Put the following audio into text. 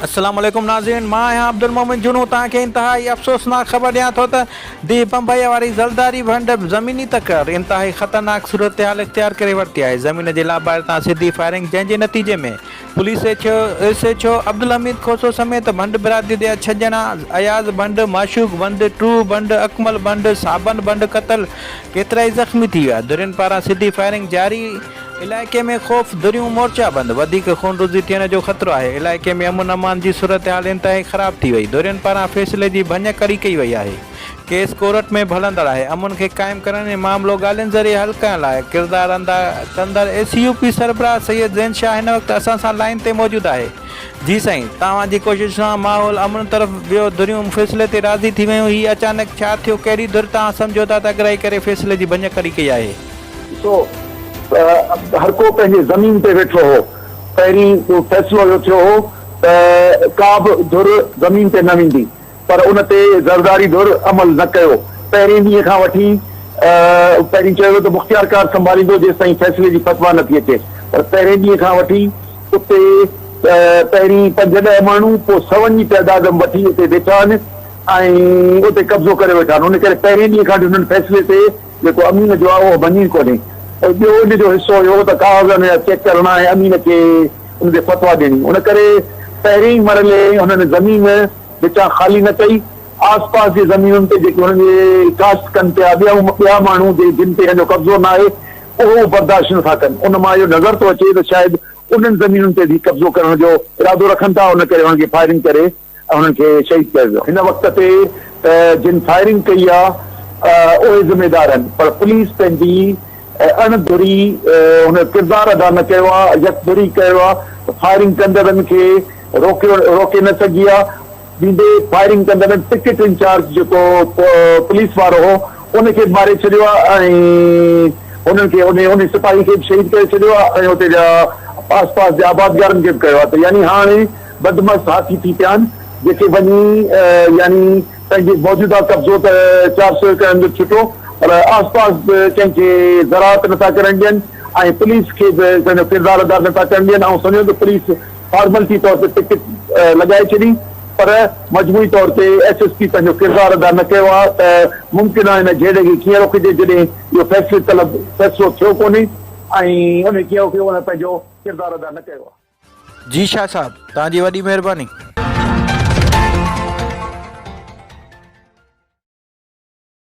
السلام عليڪم ناظرين مان آهيان عبدالمومن جنون توهان کي انتهائي افسوسناڪ خبر ڏيان ٿو ته ديهه بمبئيء واري زلزاري ڀنڊ زميني تڪرار انتهائي خطرناڪ صورتحال اختيار ڪري ورتي آهي زمين جي لاباري تان سڌي فائرنگ جنهن جي نتيجي ۾ police H O S H O Abdul Hamid Khoso سميت ڀنڊ برادري جا ڇهه ڄڻا اياز ڀنڊ معشوق ڀنڊ ٽرو ڀنڊ اڪمل ڀنڊ صابن ڀنڊ قتل ڪيترائي زخمي ٿي ويا ڌرين پاران سڌي فائرنگ جاري علائقي ۾ خوف، دريون، مورچا بند، وڌيڪ خونريزي ٿيڻ جو خطرو آهي، علائقي ۾ امن امان جي صورتحال انتهائي خراب ٿي وئي، ڌرين پاران فيصلي جي ڀڃ ڪڙي ڪئي وئي آهي، ڪيس ڪورٽ ۾ به هلندڙ آهي، امن کي قائم ڪرڻ ۽ معاملو ڳالهين ذريعي حل ڪرڻ لاء ڪردار اندا ڪندڙ اي سي يو پي سربراهه سيد زين شاهه هن وقت اسان سان لائين تي موجود آهي. جي سائين، توهان جي ڪوشش سان ماحول امن طرف ويو، ڌريون فيصلي تي راضي ٿي ويون، هي اچانڪ ڇا ٿيو، ڪهڙي ڌر توهان سمجهوتا تي اڳرائي ڪري فيصلي جي ڀڃ ڪڙي ڪئي آهي؟ سو هرڪو پنهنجي زمين تي ويٺو هو. پهرين فيصلو اهو ٿيو هو ته ڪابه ڌر زمين تي نه ويندي پر ان تي زرداري ڌر عمل نه ڪيو. پهرين ڏينهن کان وٺي پهرين چيو ويو ته مختيار ڪار سنڀاليندو جيستائين فيصلي جي فتويٰ نه ٿي اچي پر پهرين ڏينهن کان وٺي اتي پهرين پنج ڏهه ماڻهو پوء سون جي تعداد وٺي اتي بيٺا آهن ۽ اتي قبضو ڪري ويٺا آهن ان ڪري پهرين ڏينهن کان وٺي انهن فيصلي تي جيڪو امين جو آهي اهو مڃي ڪونهي پر ٻيو ان جو حصو اهو ته ڪاغذن جا چيڪ ڪرڻا ۽ امين کي ان تي فتويٰ ڏيڻي. ان ڪري پهرين ئي مرحلي هنن زمين وچان خالي نه ڪئي. آس پاس جي زمينن تي جيڪي هنن جي ڪاشت ڪن پيا ٻيا ماڻهو جن تي هن جو قبضو ناهي اهو به برداشت نٿا ڪن. ان مان اهو نظر ٿو اچي ته شايد انهن زمينن تي به هي قبضو ڪرڻ جو ارادو رکن ٿا ان ڪري هنن کي فائرنگ ڪري ۽ انهن کي شهيد ڪيو ويو. هن وقت تي ته جن فائرنگ ڪئي آ اهي ذميدار آهن پر پوليس پنهنجي اڻ ڌري هن ڪردار ادا نه ڪيو آ يڪ ڌري ڪيو آ فائرنگ ڪندڙن کي روڪيو روڪي نه سگهي آ ويندي فائرنگ ڪندڙن پڪيٽ انچارج جيڪو پوليس وارو هو ان کي به ماري ڇڏيو آ ۽ انهن کي انهي انهي سپاهي کي به شهيد ڪري ڇڏيو آ ۽ اتي جا آس پاس جي آبادگارن کي به ڪيو آ ته يعني هاڻي بدمعش هاٿي ٿي پيا آهن، جيڪي وڃي يعني پنهنجي موجوده قبضو ته چار سؤ ايڪڙن جو ڇٽو پر آس پاس به ڪنهن کي زراعت نه ٿا ڪرڻ ڏين ۽ پوليس کي به پنهنجو ڪردار ادا نه ٿا ڪرڻ ڏين آئون سمجهان ٿو پوليس فارملٽي طور تي پڪٽ لڳائي ڇڏي پر مجموعي طور تي ايس ايس پي پنهنجو ڪردار ادا نه ڪيو آهي ته ممڪن آهي هن جهيڙي کي ڪيئن روڪجي جڏهن اهو فيصلي طلب فيصلو ٿيو ڪونهي ۽ ان کي ڪيو ڪيو هن پنهنجو ڪردار ادا نه ڪيو آهي. جي شاھ صاحب توھان جي وڏي مھرباني.